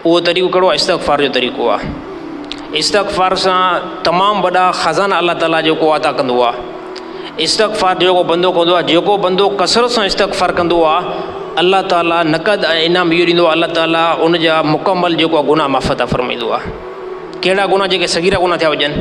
اهو طريقو ڪهڙو آهي استغفار جو طريقو آهي استغفار سان تمام وڏا خزانا الله تعالٰي جيڪو عطا ڪندو آهي استغفار جيڪو بندو ڪندو آهي جيڪو بندو ڪثرت سان استغفار ڪندو آهي الله تعالٰي نقد ۽ انعام اهو ڏيندو الله تعالٰي ان جا مڪمل جيڪو گناهه معاف عطا فرمائيندو آهي ڪهڙا گناهه جيڪي صغيره گناهه ٿيا هجن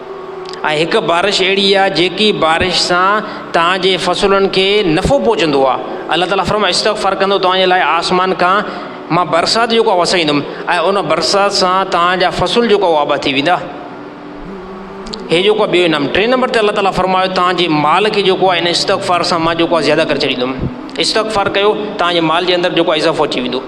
۽ هڪ بارش اهڙي آهي جيڪي بارش سان توهان جي فصلن کي نفعو پهچندو آهي الله تعالي فرمايو استغفر ڪندو توهان جي لاء آسمان کان مان برسات جيڪو آهي وسائيندم ۽ ان برسات سان توهان جا فصل جيڪو آهي آباد ٿي ويندا هي جيڪو ٻيو انعام ٽئين نمبر تي الله تعالي فرمايو توهان جي مال کي جيڪو آهي ان استغفار سان مان جيڪو آهي زياده ڪري ڇڏيندم استغفار ڪيو توهان جي مال جي اندر جيڪو آهي اضافو اچي ويندو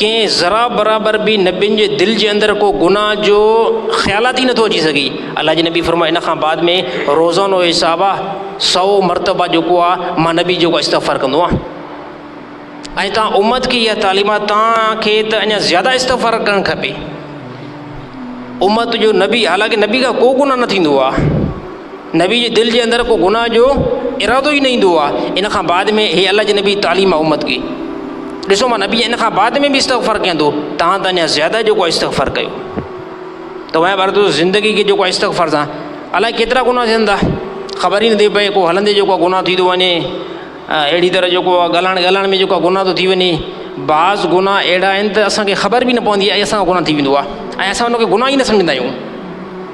ڪنهن ذرا برابر به نبين جي دل جي اندر ڪو گناهه جو خيالات ئي نٿو اچي سگهي الله جي نبي فرمايو ان کان بعد ۾ روزانو حساب آ سو مرتبه جيڪو آ مان نبي جيڪو استغفار ڪندو آ ۽ تان امت کي اها تعليم آ تان کي ته اڃا زياده استغفار ڪرڻ کپي امت جو نبي حالانڪه نبي کان ڪو گناهه نه ٿيندو آ نبي جي دل جي اندر ڪو گناھ جو ارادو ئي نه ايندو آ ان کان بعد ۾ هي الله جي نبي تعليم آ امت کي ڏسو مان نبي ان کان بعد ۾ به استغفر ڪندو تهان ته اڃا زياده جو ڪو استغفر ڪيو ته وهي بار تو زندگي کي جو ڪو استغفر سان الاء ڪيترا گناھ ٿين ٿا خبر ئي نٿي پئي ڪو هلندي جو ڪو گناھ ٿي ٿو وڃي اهڙي طرح جو ڪو ڳالهائڻ ڳالهائڻ ۾ جو ڪو گناھ ٿو ٿي وڃي بعض گناھ اهڙا آهن ته اسانکي خبر به نه پوندي آ اي اسان کان گناھ ٿي ويندو آ اي اسان ان کي گناھ ئي نه سمجهندا آهيون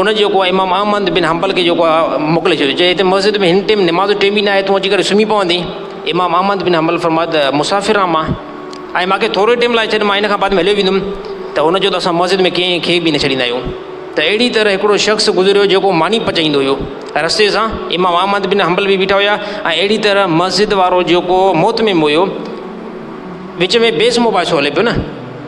ان جيڪو آهي امام احمد بن حنبل کي جيڪو آهي موڪلي ڇڏيو چي هتي مسجد ۾ هن ٽيم نماز جو ٽيم ئي نه آهي تون اچي ڪري سمهي پوندين امام احمد بن حنبل فرمايو ته مسافر آهيان مان ۽ ماکي ٿورو ئي ٽيم لاء ڇڏ مان ان کان بعد ۾ هليو ويندم ته هن چيو ته اسان مسجد ۾ ڪنهن کي به نه ڇڏيندا آهيون ته اهڙي طرح هڪڙو شخص گذريو جيڪو ماني پچائيندو هيو رستي سان امام احمد بن حنبل به بيٺا هيا ۽ اهڙي طرح مسجد وارو جيڪو موتميم هيو وچ ۾ بيس مباحثو هلي پيو نه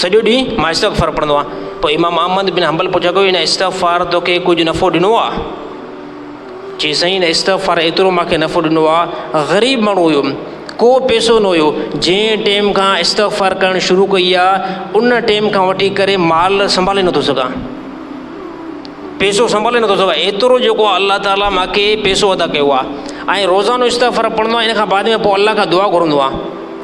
سڄو ڏينهن مان استغفار پڙهندو آهيان. پوء امام احمد بن حنبل پڇيو ته هن استغفار توکي ڪجهه نفعو ڏنو آهي؟ چيائين سائين هن استغفار ايترو مانکي نفعو ڏنو آهي غريب ماڻهو هيم ڪو پئسو نه هيو جنهن ٽيم کان استغفار ڪرڻ شروع ڪئي آهي ان ٽيم کان وٺي ڪري مال سنڀالي نٿو سگهان پئسو سنڀالي نٿو سگهان ايترو جيڪو آهي الله تعالي مانکي پئسو ادا ڪيو آهي ۽ روزانو استغفار پڙهندو آهيان ان کان بعد ۾ پوء الله کان دعا گهرندو آهيان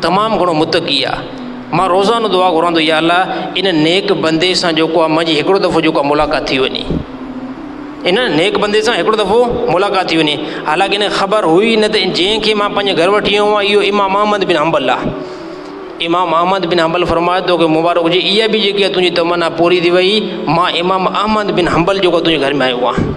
تمام گھڻو متقي آ مان روزانو دعا گھران ٿو يا الله ان نيڪ بندي سان جيڪو آ منھنجي ھڪڙو دفعو جيڪو آ ملاقات ٿي وڃي ان نيڪ بندي سان ھڪڙو دفعو ملاقات ٿي وڃي حالانڪ ان خبر ھئي نه ته جنھن کي مان پنھنجي گھر وٺي آيو آھيان اھو امام احمد بن حنبل آ امام احمد بن حنبل فرمايو تو کي مبارڪ ھجي اھا به جيڪي تنھنجي تمنا پوري ٿي وئي مان امام احمد بن حنبل جيڪو تنھنجي گھر ۾ آيو آھيان